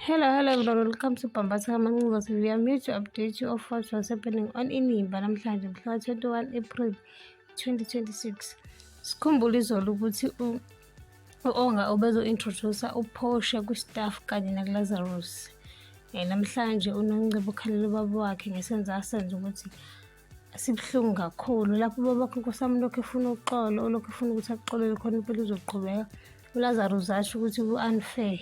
Hello, hello everyone. Welcome to Pambasa Mangugas. We are here to update you of what was happening on Inimba namhlanje mhla 21 April 2026. Sikhumbule izolo ukuthi u-Onga ubezo-introducer uPorsche kwi-staff kanye nakuLazarus. Eh, namhlanje uNongcebo ukhalela ubaba wakhe ngesenzo asenza ukuthi sibuhlungu kakhulu lapho ubabakho inkosi yami lokhu efuna uxolo olokhu efuna ukuthi akuxolele khona impilo uzoqhubeka ulazaro uzasho ukuthi ku-unfair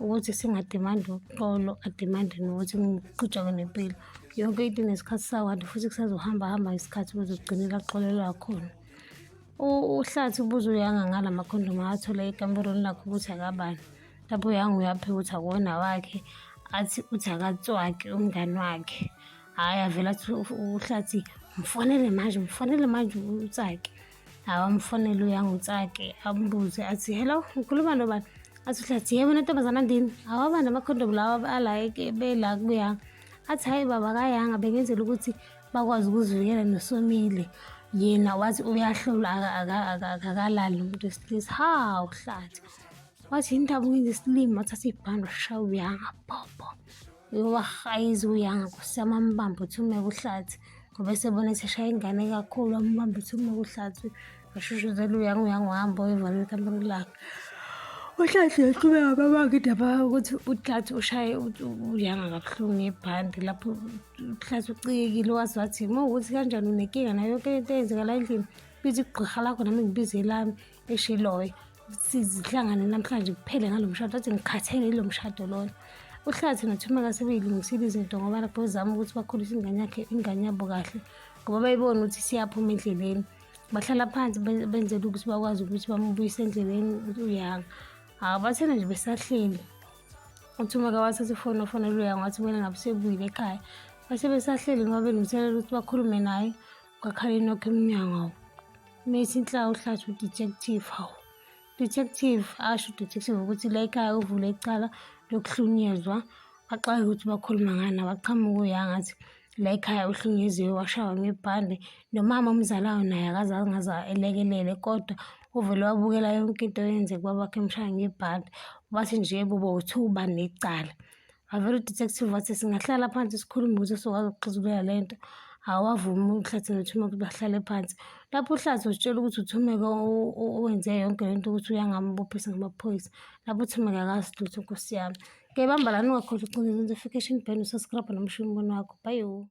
ukuthi singadimandi uxolo adimandi nokuthi ngiqhutshakwe nempilo yonke into inesikhathi sawo kanti futhi kusazohamba hamba isikhathi ukuze kugcinela axolelwa khona uhlathi ubuze uyanga ngala makhondomu athole ekamberweni lakho ukuthi akabani lapho uyanga uyaphe ukuthi akuwona wakhe athi uthi akatswaki umngani wakhe hhayi avela athi uhlathi mfonele manje mfonele manje utsake awamfonele uyangutsake ambuze athi hello ngikhuluma nobani athi uhlathi yebo nentombazana ndini awaba namakhondomu lawa alayike bela kubuyanga athi hhayi baba kayanga bengenzela ukuthi bakwazi ukuzivikela nosomile yena wathi uyahlolwa akakalali umuntu wesilisa ha uhlathi wathi yini ndaba ukwenza isilima wathatha ibhande washaya uyanga bhobho Yowah ayizi uyanga nkosi yami amubambe uthi ume kuhlathi ngoba esebona eseshaya ingane kakhulu amubambe uthi ume kuhlathi ashushuzela uyanga uyanga uhamba oyevala ikampani lakhe uhlathi yaqhubeka babanga indaba ukuthi uhlathi ushaye uyanga kabuhlungu ngebhandi lapho uhlathi ucikekile wazi wathi uma ukuthi kanjani unenkinga nayo yonke into eyenzekala endlini biza igqirha lakho nami ngibize elami eshiloyo sizihlangane namhlanje kuphele ngalo mshado athi ngikhathele yilo mshado lona uhlathi nothumeka sebeyilungisile izinto ngoba lapho zama ukuthi bakhulise ingane yakhe ingane yabo kahle ngoba bayibona ukuthi siyaphuma endleleni bahlala phansi benzela ukuthi bakwazi ukuthi bamubuyise endleleni uyanga hawu bathena nje besahleli uthumeka wathatha ifoni ofonela uyanga wathi kumele ngabe sebuyile ekhaya base besahleli ngoba belungiselela ukuthi bakhulume naye kwakhala inokho emnyango awu mesi inhlaka uhlathi udetective hawu detective asho udetective ukuthi la ekhaya uvule icala lokuhlunyezwa baxake ukuthi bakhuluma ngani abaqhamuka uyangathi la ekhaya uhlunyeziwe washawa ngebhande nomama omzalayo naye akaze angaze elekelele kodwa uvele wabukela yonke into yenzeka babakhe emshaya ngebhande wathi nje bobo uthi uba necala avele udetective wathi singahlala phansi sikhulume ukuthi sokwazi ukuxazulula le nto awavumi uhlathi nothumeka ukuthi bahlale phansi lapho uhlathi uzitshela ukuthi uthumeka owenze yonke le nto ukuthi uyangambophisa ngamaphoyisa lapho uthumeka akazi lutho nkosi yami ke bamba lani ungakhohlwa ucinga into fication ben usaskrabha nomshini umbona wakho bayo